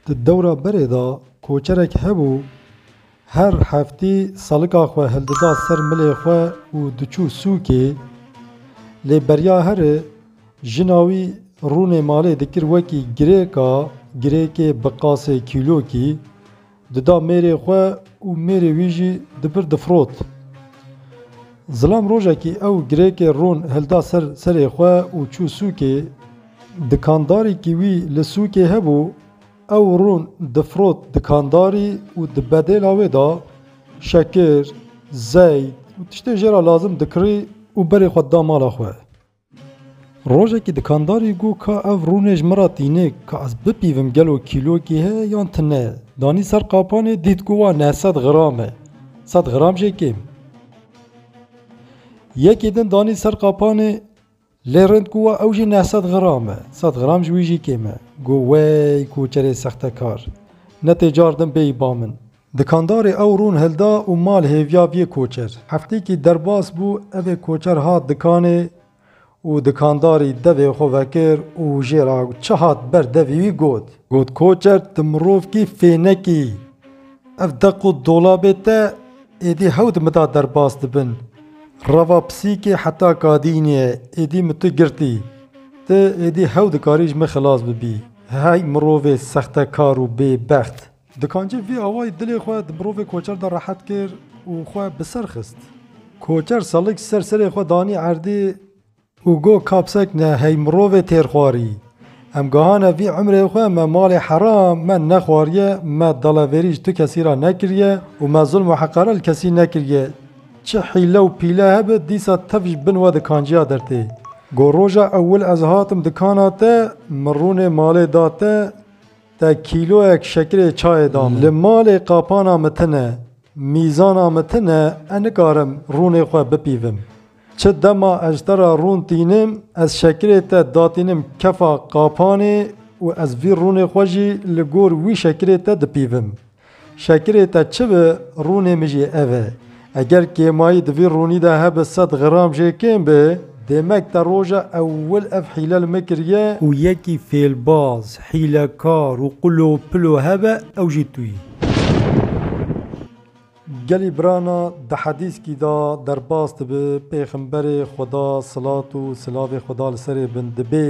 Di dewra berê de koçerek hebû her heftê salika xwe hildida ser milê xwe û diçû sûkê. Lê beriya here jina wî rûnê malê dikir wekî girêka girêkê bi qasê kîlokî. Dida mêrê xwe û mêrê wî jî di vir difirot. Zilam rojekî ew girêkê ron hilda ser serê xwe û çû sûkê. Dikandarîkî wî li sûkê hebû, ew ron difirot dikandarî û di bedêla wê de şekir, zeyt û tiştê jê re lazim dikirî û berê xwe dida mala xwe. Rojekî dikandarî got ka ev rûnê ji min re tîne ka ez bipîvim gelo kîlokê heye yan tune. Danî ser qapanê dît ku wan e sed gram e. Sed gram jê kêm. Yekê din danî ser qapanê lê rind ku wa ew jî neh sed gram e. Sed gram ji wî jî kêm e. Got wey koçerê sextekar. Ne tê car din bêyî ba min. Dikandarê ew rûn hilda û mal hêviya biyê koçer. Heftêkî derbas bû evê koçer hat dikanê û dikandarî devê xwe vekir û jê re çi hat ber devî wî got. Got koçer tu mirovkî fênek î. Ev deq û dolabê te êdî hewt mida derbas dibin. Reva pisîkê heta kadînî ye êdî min tu girtî. Tu êdî hew dikarî ji min xilas bibî. Hey mirovê sextekar û bêbext. Dikancî vî awayî dilê xwe di mirovê koçer de rehet kir û xwe bi ser xist. Koçer selik ser serê xwe danî erdê û got, Kapsek ne hey mirovê têrxwarî. Em gehane vî emrê xwe me malê heram me nexwariye, me dalaverî ji tu kesî re nekiriye û me zulm û heqare li kesî nekiriye. Çi hîle û pîle hebe dîsa tev ji bin we dikanciya dertê. Got, Roja ewil ez hatim dikana te min rûnê malê da te, Te kîloyek şekirê çayê da min. Li malê qapana min tune, mîzana min tune, ez nikarim rûnê xwe bipîvim. Çi dema ez ji te re rûn tînim, ez şekirê te datînim kefa qapanê û ez vî rûnê xwe jî li gor wî şekirê te dipîvim. Şekirê te çi bi, rûnê min jî ev e. Eger kêmayî di vî rûnî de hebe sed gram jê kêm be. Demek te roja ewil ev hîle li min kiriye. Ku yekî fêlbaz, hîlekar û qulopilo hebe ew jî tu yî. Gelî birana di hedîskî de derbas dibe, pêxemberê Xweda silat û silavê Xweda li serê bin dibê.